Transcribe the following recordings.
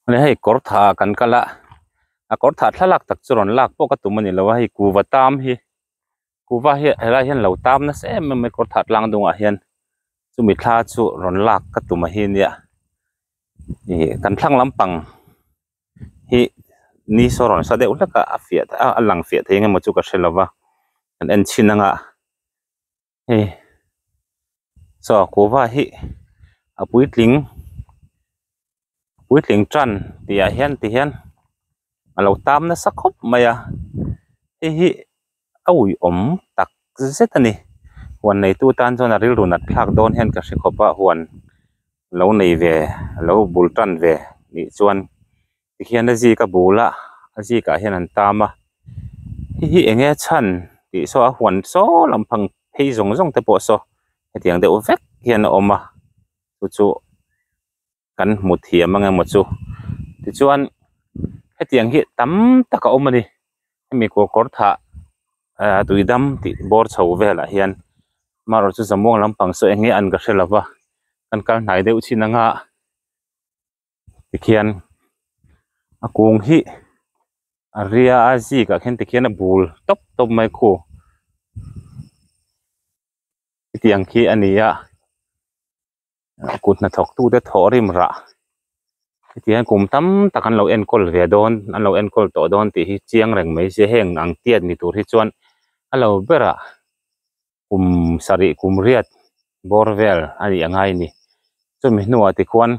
Hei hei kawr tha kan kal a a kawr tha thlalak tak chu rawn lak pawh ka tum a ni lo a hei kuhva tam hi kuhva hi he lai hian lo tam nasa em em mai kawr tha tlang dawng ah hian chumi thla chu rawn lak ka tum a hi nia ih kan thlang lampang hi ni saw rawn sa deuh hlek a a fiah a lang fiah theih emaw chu ka hre lo va kan en chin anga. hei chaw kuhva hi a puitling puitling tan tih ah hian tih hian a lo tam nasa khawp mai a hei hi a ui awm tak zet a ni huan neitu tan chuan a rilru nat thlak dawn hian ka hre khawp a huan lo nei ve lo bul tan ve nih chuan-- tikhian a zika bul a a zikah hian an tam a hihi eng nge chhan tih saw a huan saw lampang phei zawng zawng te pawh saw hetiang deuh vek hian a awm a chu chu kan hmu thiam ang emaw chu tichuan hetiang hi tam tak a awm a ni hemi kawr kawr thah ahh tuidam tih bawr chho velah hian amarawhchu chu zamuang lampang saw eng nge an ka hre lova kan kal hnai deuh chin anga. tikhian a kung hi a ria a zikah khian tikhian a bul tawp tawp mai khu hetiang khi a nia a kut hna thawk tute thawh rim rah hetiang kum tam tak an lo enkawl ve dawn an lo enkawl tawh dawn tih hi chiang reng mai se heng ang tiat ni tur hi chuan a lo berah. kum sarih kum riat bawr vel a nih ang a i ni chumi hnua tichuan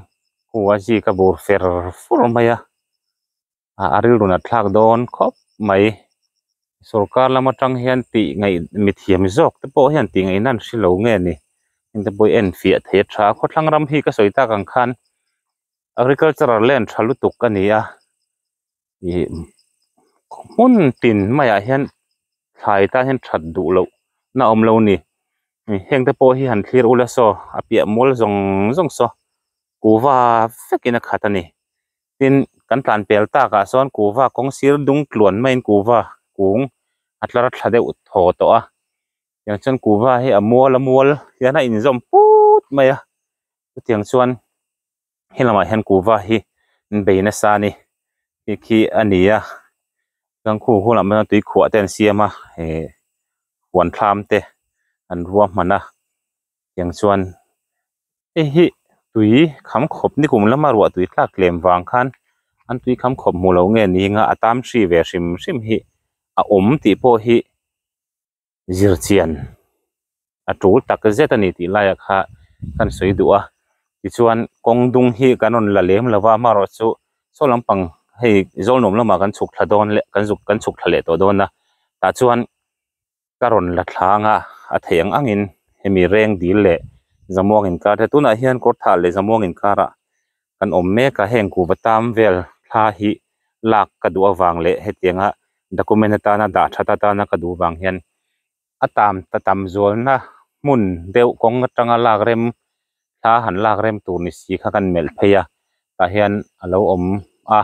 khua zik a bur fer fur mai a a rilru nat thlak dawn khawp mai sawrkar lam atang hian tih ngaih mithiam zawk te pawh hian tih ngaihna an hrilo nge ni heta pawh i enfiah theih a tha a khawthlang ram hi ka sawi tak ang khan agricultural land tha lutuk a ni a. ihh hmun pin mai ah hian thlai tan hian that duh loh na awm lo ni heng te pawh hi han thlir ula saw a piah mual zawng zawng saw kuhva vek in a khat a ni tin kan tlan pel tak ah sawn kuhva kawng sir dung tluan mai in kuhva kung a tlar a thla deuh thaw tawh a tiang chuan kuhva hi a mual a mual hian a inzawm put mai a chutiang chuan-- Helamah hian kuhva hi bei nasa a ni hei khi a ni a gangkhu hunah maw hian tui khuah te an siam a eh huan thlam te an ruahman a tiang chuan hei hi tui kham khawp ni kum lama ruah tui tlak lem vang khan an tui kham khawp hmu lo nge ni anga a tam hri ve hrim hrim hi a awm tih pawh hi-- zirchian a tul tak zet a ni tih laia kha kan sawi duh a tichuan kawng dung hi kan rawn la lem lova amaherawhchu chu saw lampang hei zawl nuam lamah kan chhuk thla dawn leh kan zuk kan chhuk thla leh tawh dawn a tah chuan ka rawn la thlang a a thei ang angin hemi reng dil leh zamuang inkar te tunah hian kawr thah leh zamuang inkar ah-- kan awm mek a, heng kuhva tam vel thla hi lak ka duh avang leh hetianga document atana dah that atana ka duh vang hian a tam ta tam zualna hmun deuh kawng atanga lak rem thla han lak rem tur ni si kha kan melh phei a, tah hian a lo awm a,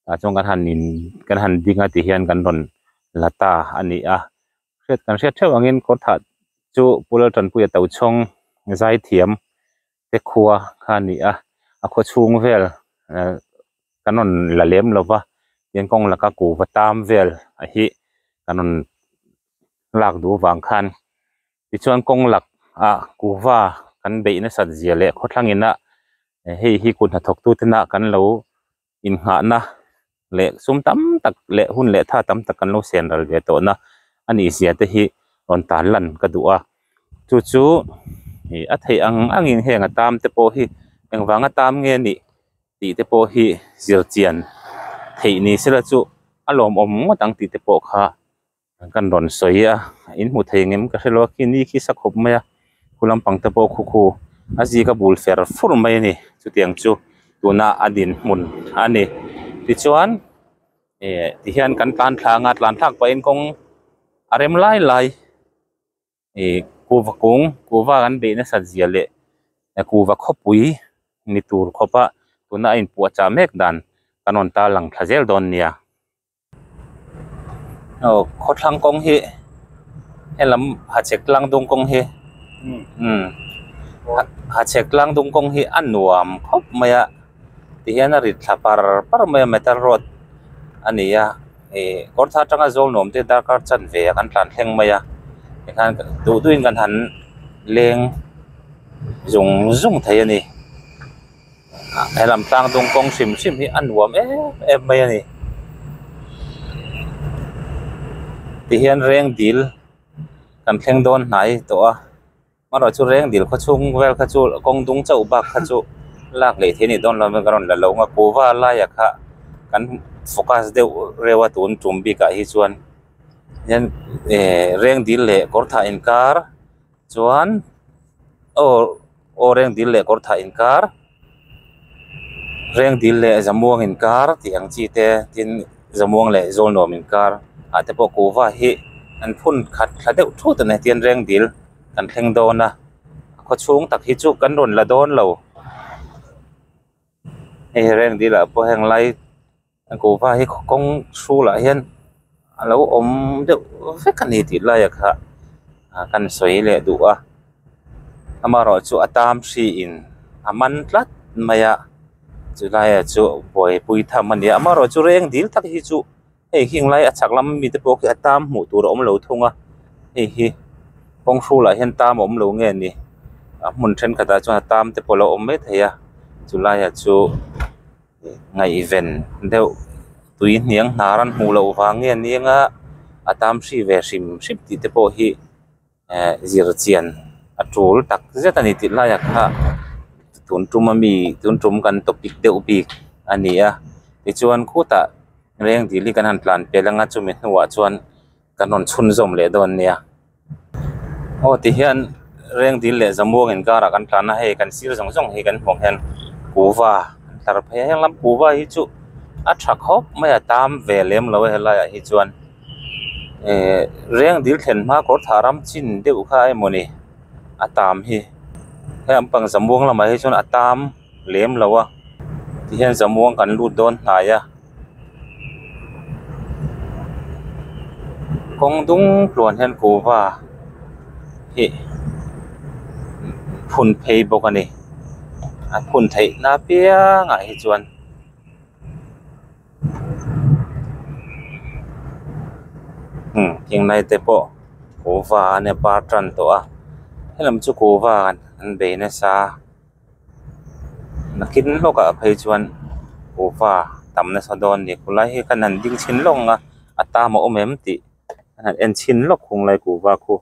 tah chuan kan han in kan han ding a tih hian kan rawn la ta a ni a, hriat kan hriat theuh angin kawr thah chu Pu Laltanpuia Tochhawng Zaithiam te khua kha a ni a a khua chhung vel eh kan rawn la lem lo va tin kawng laka kuhva tam vel ah hi kan rawn lak duh avang khan tichuan kawng lak ah kuhva kan beih nasat zia leh khawthlang ina hei hi kut hnathawk tu ten a kan lo inngahna leh sum tam tak leh hun leh tha tam tak kan lo siam ral ve tawh na a ni zia te hi rawn tan lan ka duh a chu chu ih a theih ang ang in heng a tam te pawh hi eng vang a tam nge nih tih te pawh hi zir chian theih ni se la chu a lawmawm ngawt ang tih te pawh kha Kan rawn sawi a, in hmu thei ngem ka hrelo, khi ni khi sa khawp mai a, khu lampang te pawh khu khu a zika bul fer fur mai a ni, chutiang chu tuna a dinhmun a ni, tichuan eh tihian kan tlan thlang a, tlan thlak pahin kawng a rem lai lai, eh kuhva kung, kuhva an beih nasat zia leh kuhva khawpui ni tur khawpa tuna a inpuahchah mek dan kan rawn tarlang thla zel dawn nia. aw khawthlang kawng hi helam hachek tlang dawng kawng hi umm hachek tlang dawng kawng hi a nuam khawp mai a ti hian a rit thla par par mai a metal rod a ni a ih kawr tha tanga zawl nuam te darkar chan ve a kan tlan thleng mai a tikhan duh duih in kan han leng zung zung thei a ni. he lam tlang dung kawng hrim hrim hi a nuam em em mai a ni tihian reng dil kan thleng dawn hnai tawh a amarawhchu chu reng dil khaw chhung vel kha chu kawng dung chauh bak kha chu lak leh thei a nih dawn lo ka rawn la lo a kuhva laia kha kan focus deuh reuh a tun tum bikah hi chuan reng dil leh kawr thah inkar. Chuan aw aw reng dil leh kawr thah inkar reng dil leh zamuang inkar tih ang chi te tin zamuang leh zawl nuam inkar ah te pawh kuhva hi an phun khat thla deuh thut a ni a tian reng dil kan thleng dawn a a khaw chhung tak hi chu kan rawn la dawn lo hei reng dil ah pawh heng lai-- Gofa hi kawng chhung lah hian a lo awm deuh vek a ni tih lai ah kha a kan sawi leh duh a amaherawhchu chu a tam hri in a man tlat mai a chu lai ah chuan buai pui tham a ni a amaherawhchu chu reng dil tak hi chu hei hing lai a chhak lam mi te pawh khi a tam hmuh tur a awm lo thung a hei hi kawng hru lah hian tam a awm lo nge ni a hmun thenkhatah chuan a tam te pawh a lo awm mai thei a chu lai ah chu-- Ngaihven deuh tui hniang hna ran hmuh loh vang nge anianga a tam hri ve hrim hrim tih te pawh hi ehh zir chian a tul tak zet a ni tih lai ah kha tun tum a mi tun tum kan topic deuh bik a ni a tichuan khutah reng dil hi kan han tlan pel anga chumi hnua chuan kan rawn chhun zawm leh dawn nia. aw tihian reng dil leh zamuang inkar ah kan tlan a hei kan sir zawng zawng hi kan hmuh hian kuva an tlar phei a henglam kuva hi chu a tha khawp mai a tam ve lem lo a helai ah hi chuan ehh reng dil thlen hma kawr thah ram chin deuh kha emaw ni a tam hi heng pang zamuang lamah hi chuan a tam-- lem lo a ti hian zamuang kan lut dawn hnai a kawng dung tluan hian kuhva hi phun phei bawk a ni a phun theih na piang ah hi chuan hmm thing lai te pawh kuhva an par tan tawh a heng lam chu kuhva an bei nasa. Nakin hlawkah phei chuan ufa tam nasa dawn ni khulai hi ka han ding chhin lawk ang a a tam a awm em tih ka han en chhin lawk khung lai ku va khaw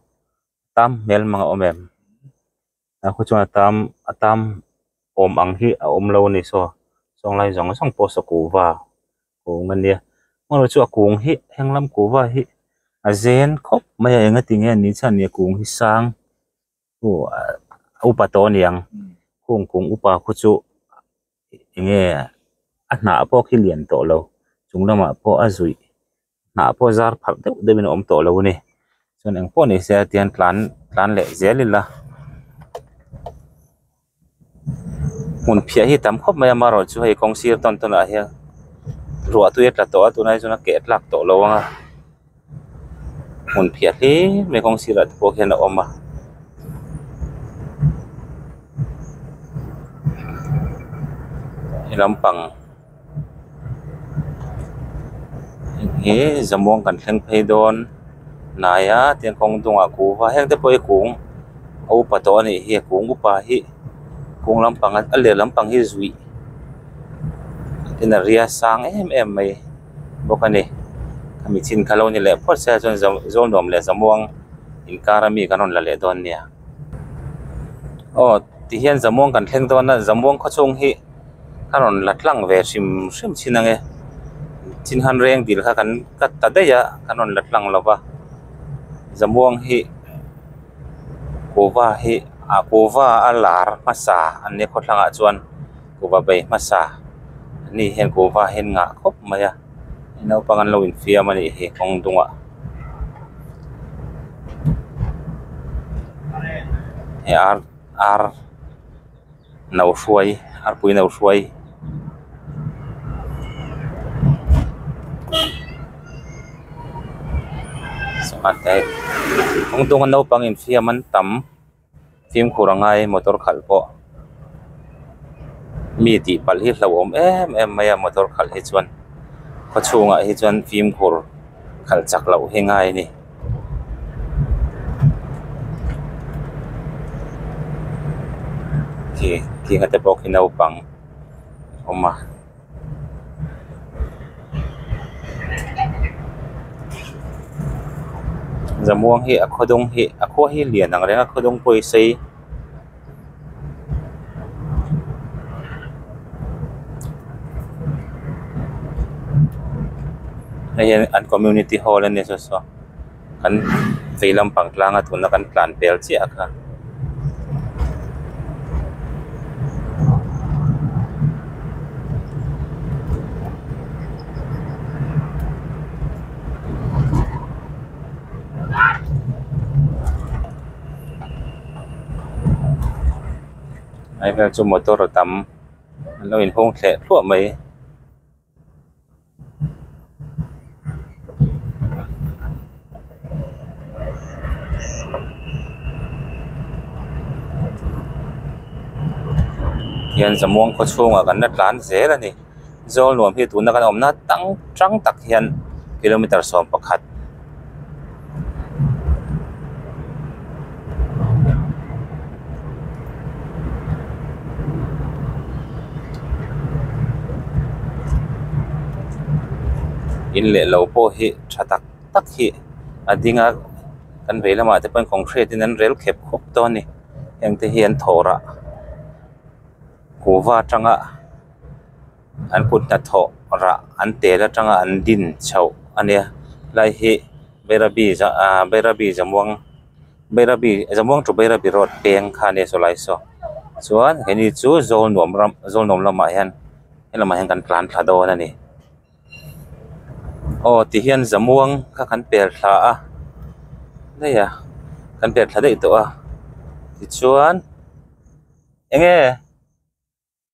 tam hmel mang a awm em a khaw chuan a tam a tam awm ang hi a awm lo a ni saw sawnglai zawng zawng pawh saw ku va awm a nia hmaruchu a kung hi henglam kuva hi a zen khawp mai a eng a tinge an ni chian nia kung hi sang-- Hung upa tawh a niang, hung kung upa khu chu eng nge a hnah pawh khi lian tawh lo, chung lamah pawh a zuih hnah pawh zar pharh deuh deuh in a awm tawh lo a ni. Chuan engpawh ni se a tian tlan tlan leh zel ila. hmun phiah hi a tam khawp mai a marul chu hei kawng sir tawn tawn ah hian ruahtuia a tla tawh a tunah hi chuan a keh a tlak tawh lo ang a hmun phiah hle mai kawng sirah te pawh hian a awm a. heng hi zamuang kan thleng phei dawn hnaia tiang kawng dawng ah kuh va hekte pawh hi kung a upa tawh anih hi kung upa hi kung lampang a a leh lampang hi zui in a ria sang em em mai bawk a ni mi chhin kha lo ni leh phawt se a zawm zawm zawm nuam leh zamuang inkara mi kan rawn la leh dawn nia. aw tihian zamuang kan thleng dawn a zamuang khaw chhung hi a rawn la tlang ve hrim hrim chin ange chin han reng dil kha kan cut ta daih a kan rawn la tlang lova zamuang hi kova hi a kova a lar hmasa an ni a khaw thlangah chuan. kuhva bei hmasa ni hian kuhva hi an ngah khawp mai a hei naupang an lo infiam a nih hi kawng dungah he ar ar no hruai arpui no hruai kawng dunga naupang infiam an tam. Fimkhur a ngai motor khalh pawh mi tihpalh hi hlauhawm em em mai a motor khalh hi chuan khawchhungah hi chuan fimkhur khalh chak loh hi ngai a ni. Zamuang hi a khaw dawng hi a khaw hi lian ang renga khaw dawng pawhin a sei hei hian an community hall a ni tawh saw. kan vei lampang tlanga tuna kan tlan pel chiah kha. Ai vel chu motor a tam, an lo inhung thleh thluah mai. hian zamuang khaw chhungah kan la tlan zel a ni zawl nuam hi tuna kan awmna tang hrang tak hian kilometre sawm pakhat-- In leh lo pawh hi tha tak tak hi a ding a kan vei lamah te pawh hian concrete in an rel khep khawp dawn a ni hengte hian thawrah kuhva tanga-- an kut hna thawh rah an tel atanga an din chhoh a nia helai hi Bairabi za ah Bairabi Zammuang Bairabi Zammuang to Bairabi road peng kha nia saw lai saw chuan he ni chu Zawlnuam ram Zawlnuam lamah hian helamah hian kan tlan thla dawn a ni aw tihian Zammuang kha kan per thla a daih a kan per thla daih tawh a tichuan eng nge.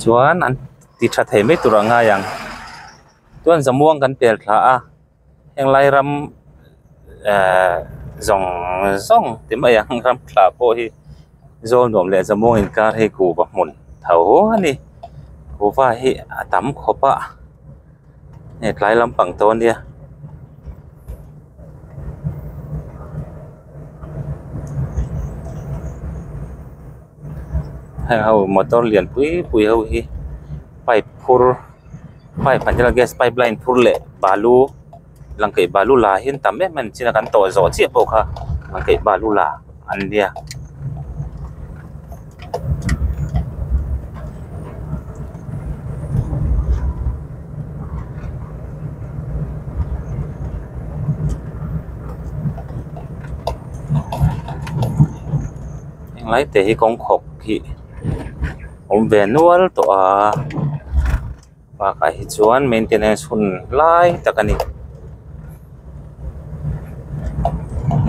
chuan an ti tha thei mai tur a ngai ang chuan zamuang kan pel thla a heng lai ram ehh zawng zawng ti mai ang ram thla pawh hi zawl nuam leh zamuang in kar hi kuh va hmun tho a ni kuh va hi a tam khawp a. hei tlai lampang tawh ania hei ho motor lian pui pui ho hi pipe phur pipe ah hian gas pipe line phur leh balu lang kaih balu la hi an tam em em a ni chin a kan tawh zawh chiah pawh kha lang kaih balu la. an bia. Englai te hi kawng khawk hi awm ve nual tawh a. Bakah hi chuan maintenance hun lai tak a ni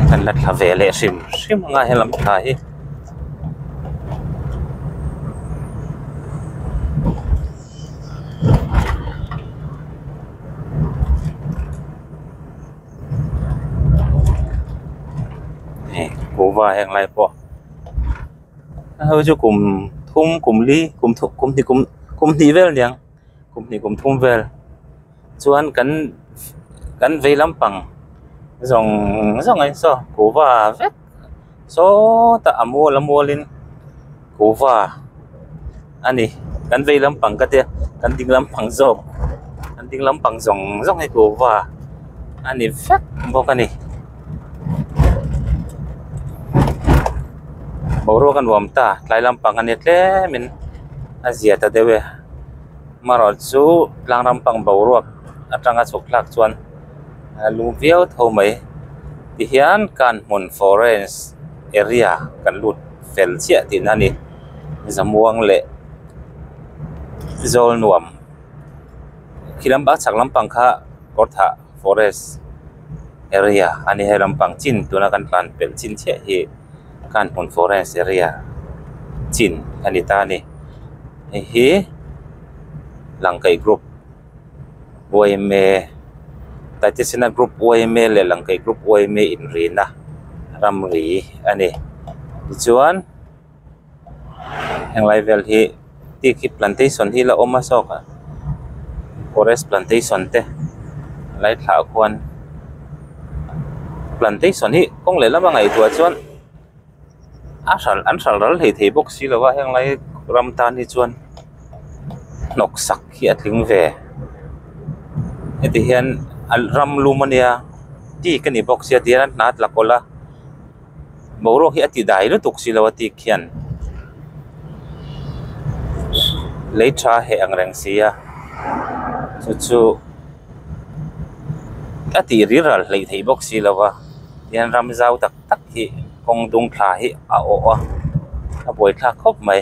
kan la thla ve leh hrim hrim ang a he lam thla hi. Hau chu kum thum kum li kum thum kum hnih kum kum hnih vel nia kum hnih kum thum vel chuan kan kan vei lampang zawng zawng a ni saw kuhva vek saww tah a mual a mual in kuhva-- a ni kan vei lampang ka tia kan ding lampang zawk kan ding lampang zawng zawng hi tlûva a ni vek bawk a ni boruak a nuam ta tlai lampang a ni tlemin a zia ta deuh e amarawhchu chu tlang ram pang boruak aṭanga chhawk tlak chuan a lu viau tho mai tihian kan hmun forest area kan lut fel chiah tihna a ni. zamuang leh zawlnuam khi lam a chak lampang kha kawrthah forest area a ni hei lampang chin tuna kan tlan pelh chin chiah hi khan hun forest area chin a ni ta a ni hei hi langkaih group yma titesina group yma leh langkaih group yma inrihna ramri a ni tichuan-- heng lai vel hi teak hi plantation hi ala awm a zawk a forest plantation te a lai thlah khuan plantation hi kawng leh lama ngaihtuah chuan a hral an hral ral hei thei bawk si lo a heng lai ram tan hi chuan hnawk sak hi a tling ve heti hian ram lum a nia teak a ni bawk sia ti hian an hna tlak awla. Boruak hi a ti dai lutuk si lo a tik hian lei tha heh ang reng si a, chu chu a tih rilral hleih theih bawk si lo a, tihian ram zau tak tak hi kawng dung thla hi a awh a, a buai thlak khawp mai,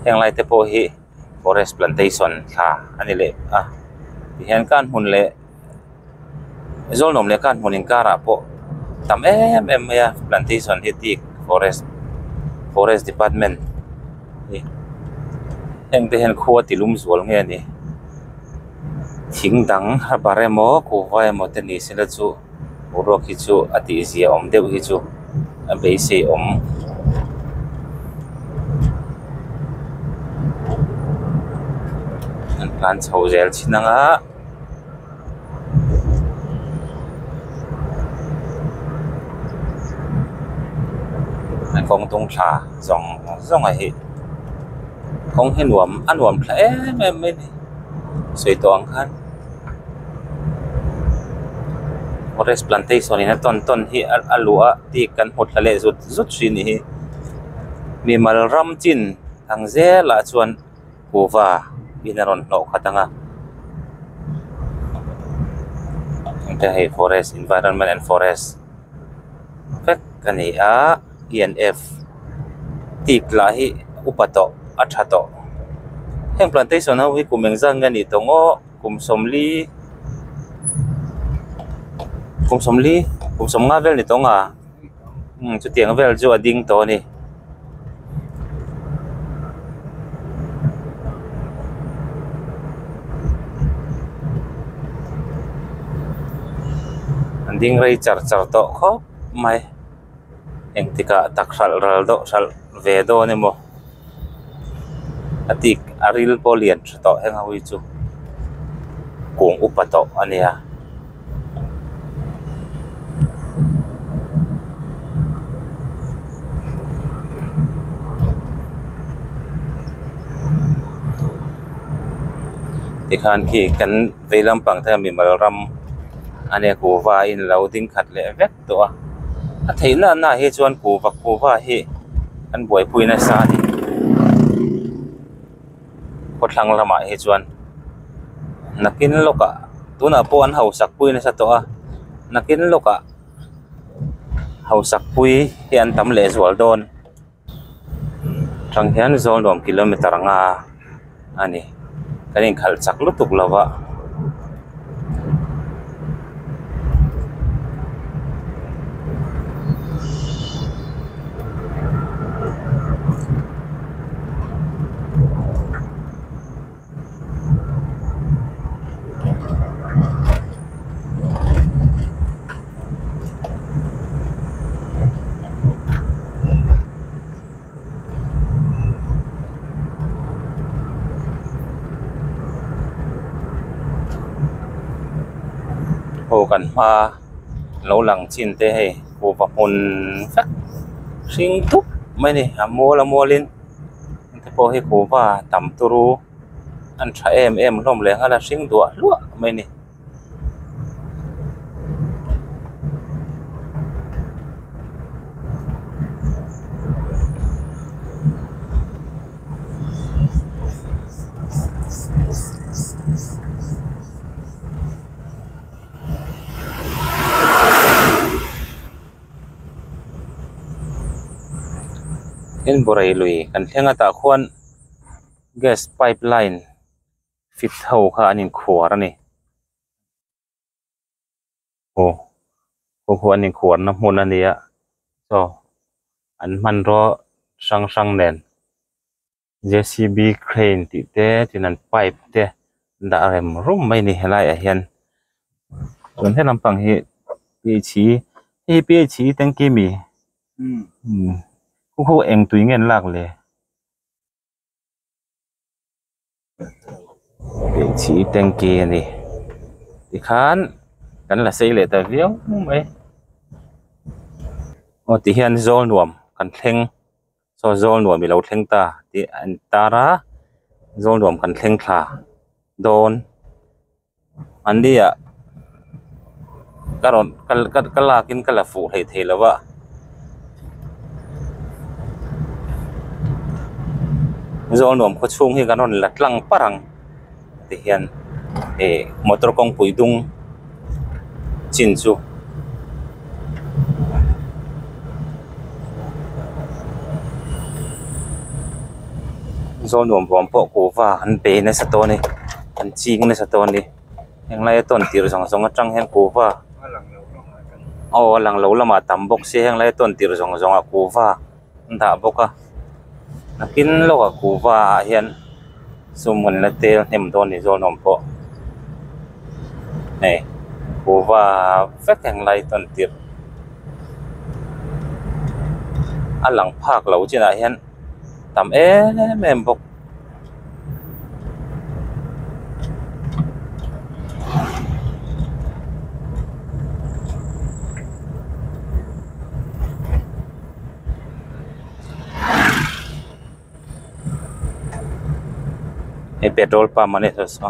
heng lai te pawh hi. forest plantation thla a ni leh a ti hian kan hmun leh zawlnawm leh kan hmun inkarah pawh tam em em mai a plantation hi teak forest forest department heng te hian khua ti lum zual nge ni thing dang ramba remaw kuhva emaw te ni sela chu-- Boruak hi chu a tih zia awm deuh hi chu a beisei awm. An hlan chho zel chin ang a. Kawng tung thla zawng zawng a hi. Kawng hi nuam a nuam thla em em mai ni. Sawi tawh ang khan. forest plantation in a tawn tawn hi a luh a bik kan hmu thla leh zut zut hrih ni hi mimal ram chin ang zel ah chuan kuva in a rawn hlawh khat ang a heta hei forest environment and forest vek a ni a. TNF tih lah hi upa tawh a tha tawh heng plantation ho hi kum engzat nge anih tawh ngawh kum sawmli kum sawmli kum sawm nga vel ni tawh anga umm chutiang vel chu a ding tawh a ni. engtikah a tak hralh ral deuh hralh ve dawn emaw a tih a ril pawh a lian tha tawh heng ho hi chu kung upa tawh a nia. Tikhan khi kan veilam pang thei a mimal ram a nia kuva in a lo ding khat leh vek. tawh a, a thei na na hi chuan pu vak pu va hi an buaipui nasa a ni, khawthlang lamah hi chuan nakin lawkah tunah pawh an hausak pui nasa tawh a, nakin lawkah hausak pui hi an tam leh zual dawn. Chang hian zawl nuam kilometer anga a ni kan inkhalh chak lutuk lo va. Aw kan hma lo lang chin te hei hupa hmun vek hring dup mai a ni a mual a mual in. te pawh hi huhva tam tur u an tha em em hlawm leh nghal a hring duah hluah mai a ni. in burai lui kan thleng atah khuan gas pipe line fit ho kha an in khuar a ni aw khawkhawh an in khuar na hmun a nia chaw an hman rawh hrang hrang nen. J C B crane tih te tin an pipe te dah rem rum mai a ni helai ah hian chuan he lampang hi p h i hei hi p h i tanky a mi umm khu ho eng tui nge an lak le p h i tanky a ni ti khan kan la sawi leh ta viau mai aw tihian zawl nuam kan thleng. Saw zawlnuam i lo thleng ta tih a intar a, zawlnuam kan thleng thla dawn. An ni ah ka rawn ka lak in ka la fuh hlei thei lo a. Zawlnuam khawchhung hi kan rawn la tlang par ang. te hian ihh motor kawngpui dung chin chu zo nuam vuam pawh kuhva an pe nasa dawn a ni an ching nasa dawn a ni heng lai atawn tir zawng zawng atang hian kuhva aw a lang lo lamah a tam bawk si heng lai atawn tir zawng zawng ah kuhva. an dah bawk a nakin lawk a kuhva ah hian sum hun la tel hnem dawn ni zawng awm pawh hei kuhva vek ang lai tawn tirh a lang phak loh chinah hian tam em em bawk. he petrol pump a ni thei sa.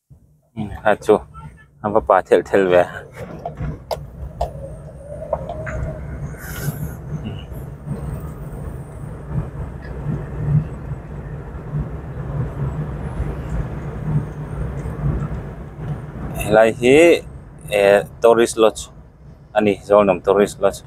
Kha chu a va pah thelh thelh ve a helai hi ehh tourist lodge . a ni zawlnawm tourist la chu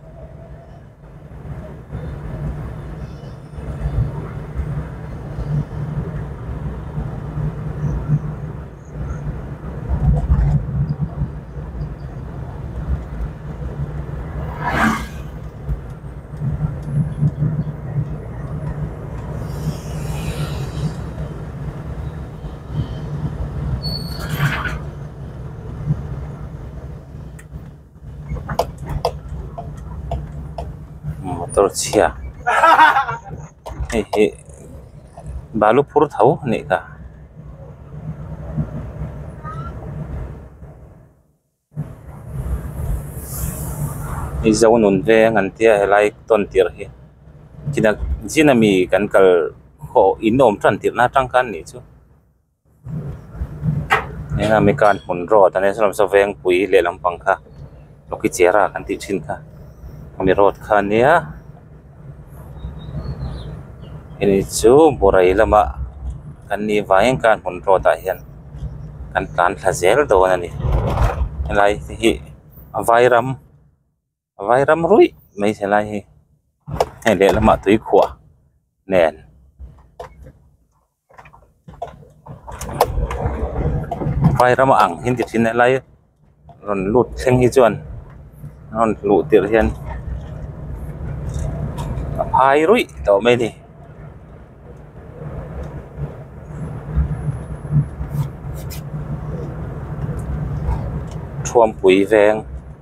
motor chhia hei hi balu phur tho a nih ka. I zonun ve ang an tia he lai ton tir hi chinak chin ami kan kal khawh in awm tan tirna atang khan ni chu. Hengah mi khan hmun rawt a nia sawn awmsa vengpui leh lampang kha Lawngki Chiara kan tih thin kha hemi rawt kha nia hemi chu Borei lama kan nih vang in khan hmun rawtah hian kan tlan thla zel dawn a ni helai te hi a vairam-- vai ram ruih mai se lai hi hei leh lamah tuikhuah nen vai rama ang hi ni thin helai rawn lut thleng hi chuan rawn hluh tirh hian a phai ruih tawh mai a ni.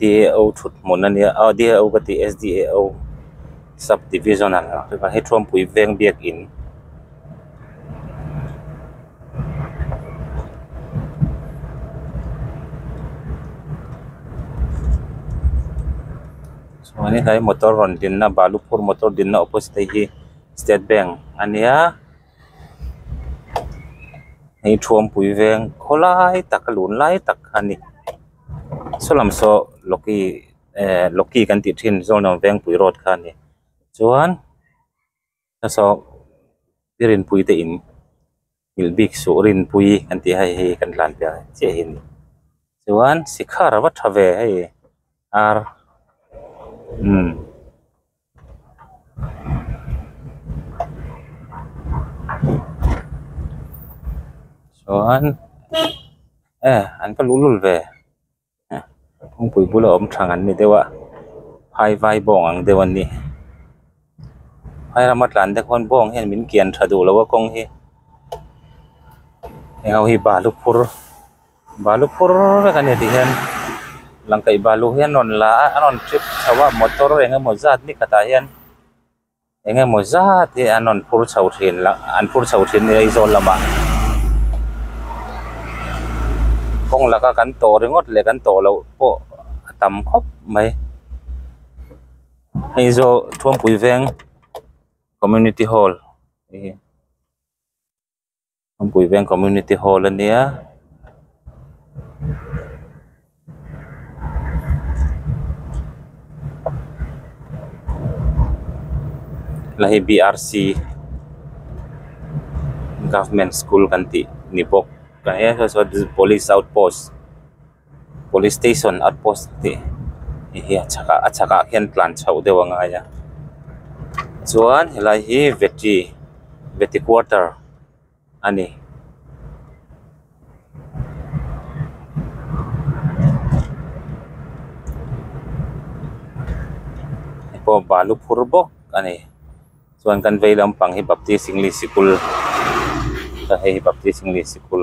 DAO thutmawlh a nia a DAO ka tih SDAO sub division a lang a hi thawmpui veng biak in chuan in he motor rawn din na balu phur motor din na opposite te hi state bank a nia hei thawmpui veng khawlai tak a lun lai tak a ni. Saw lam saw Loki eh Loki kan tih thin zawng ang Vengpui road kha a ni chuan hnasaw Rinpui te in Milh Bik suh Rinpui kan tih hei hi kan tlan piahah chiah hi a ni chuan Sikha rava tha ve hei a umm. chuan eh an ka luh lul ve eh kawngpui bula awm thang an ni deuh a phaivai bawng ang deuh an ni phairam atlan te khawn bawng hian min kian tha duh lo a kawng hi heng ho hi balu phur-- Balu phur vek a ni tih hian lang kaih balu hi an rawn la a an rawn trip chho a motor eng emaw zat ni khatah hian eng emaw zat hi an rawn phur chho thin la an phur chho thin a ni aizawl lamah kawng laka kan tawh ringawt leh kan tawh loh pawh a tam khawp mai Aizawl Thawngpui Veng community hall a ni. Puiveng community hall a nia la hi brc government school kan tih ni bawk tah hian hre saw police outpost . Police station at post tih hei hi a chhakah a chhakah khian tlan chhoh deuh a ngai a chuan helai hi vetri veti quarter a ni. Hepawh balu phur bawk a ni chuan kan vei lampang hi baptist english sikul ka hei hi baptist english sikul.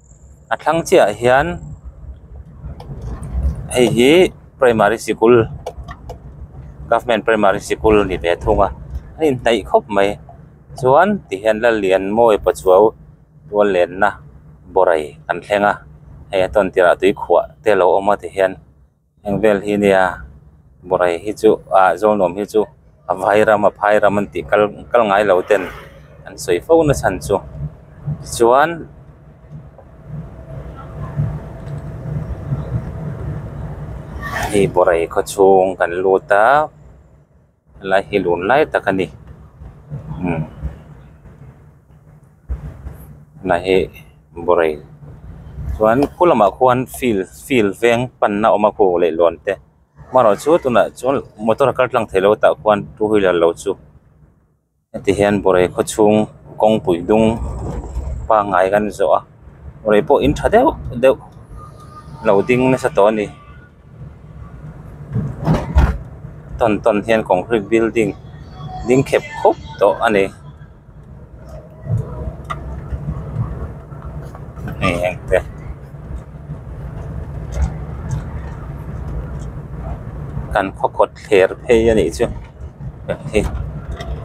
a thlang chiah ah hian hei hi primary sikul government primary sikul a ni ve thung a a inhnaih khawp mai chuan tihian la lian mawi paw chu tual len na borai an thleng a hei a tawn tir ah tuikhuah te a lo awm a tihian. Heng vel hi nia Borai hi chu ah Zawlnuam hi chu a vai ram a phai ram an tih kal kal ngai lo ten an sawi fo na chhan chu tichuan hei Borai khawchhung kan lut a. Helai hi lun lai tak a ni umm tunah hi Borei chuan khua lamah khuan field field veng panna a awm a khuh leh luan te hmangaih chu tunah chuan motor a kal tlang theilo tah khuan two wheeler lo chu-- Heti hian Borei khawchhung kawngpui dung pangngai kan zawh a, Borei pawh in tha deuh deuh lo ding nasa tawh a ni. Tawn tawn hian concrete building ding khep khup tawh a ni. Hei engte. Kan khaw kawt. thler phei a nih chu hei hi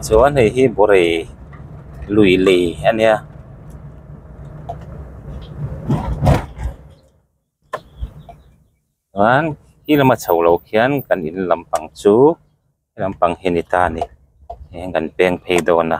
chuan hei hi bawrei lui lei a nia. Chuan khi lama chho lo khian kan in lam pang chu hei lampang hi a ni ta a ni. Eng kan peng phei dawn a.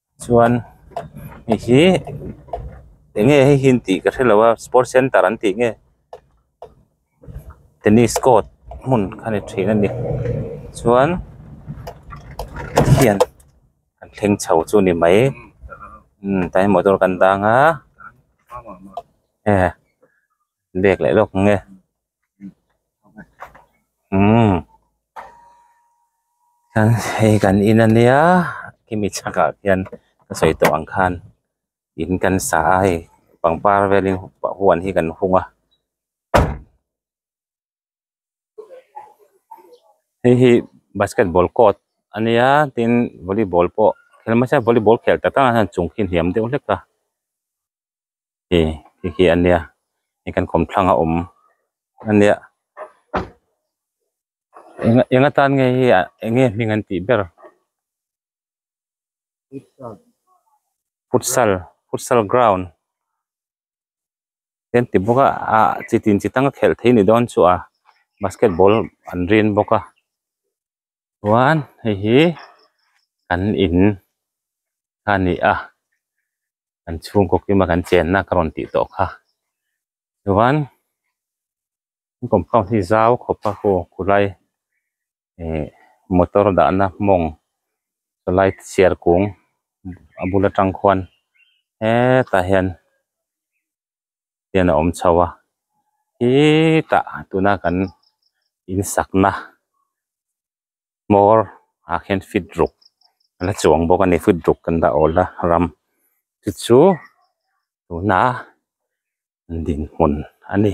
Chuan hei hi eng nge hei hian tih ka hre lo a sport centre an tih nge tennis court hmun kha ni thin a ni chuan khian an thleng chho chu a ni mai umm tlai motor kan dang a. bek leh lawk nge umm khan hei kan in a nia hemi chhakah hian ka sawi tawh ang khan in kan sa a hei pangpar velin huan hi kan hung a. hei hi basketball court a nia tin volleyball pawh eng mahse volleyball khel ta tana hian chung khi a hniam deuh hlek a hei hei khi a nia hei kan khawm thlanga awm a nia enga enga tan nge hi ah enge hming an tih ber futsal futsal ground . kan ti bawk a ah chi tin chi tang a khelh thei ni dawn chu'ah basketball an rin bawk a chuan hei hi kan in kha ni a kan chhungkaw kim a kan chenna ka rawn tih tawh kha chuan an compound hi zau khawp a hawk ku lai. ihh motor dahna mawng chulai chhiar kung a bul atang khuan hetah hian hian a awm chho a hetah tuna kan in sakna hmawr ah khian fit ruk a la chuang bawk a ni fit ruk kan dah awl a ram te chu tunah a dinhmun a ni.